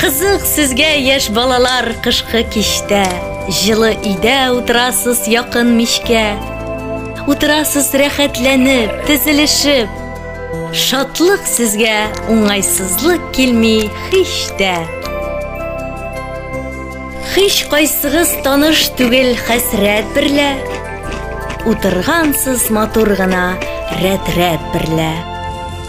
Кызык сезгә, яшь балалар, кышкы кичтә. Җылы өйдә утырасыз якын мичкә. Утырасыз рәхәтләнеп, тезелешеп. Шатлык сезгә, уңайсызлык килми һич тә. Һич кайсыгыз таныш түгел хәсрәт берлә. Утыргансыз матур гына рәт-рәт берлә.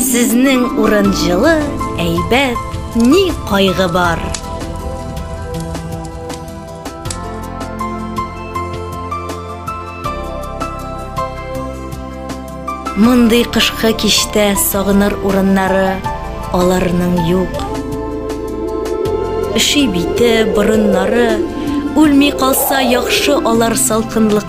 Сезнең урын җылы, әйбәт, ни кайгы бар? Мондый кышкы кичтә сагыныр урыннары аларның юк. Өши бите, борыннары, үлми калса яхшы алар салкынлык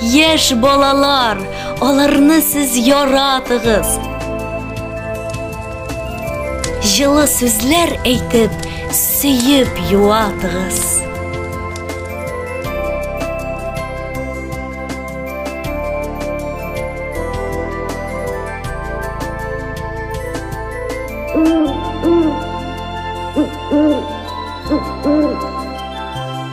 Яшь балалар, аларны сез яратыгыз. Җылы сүзләр әйтеп, сөеп юатыгыз.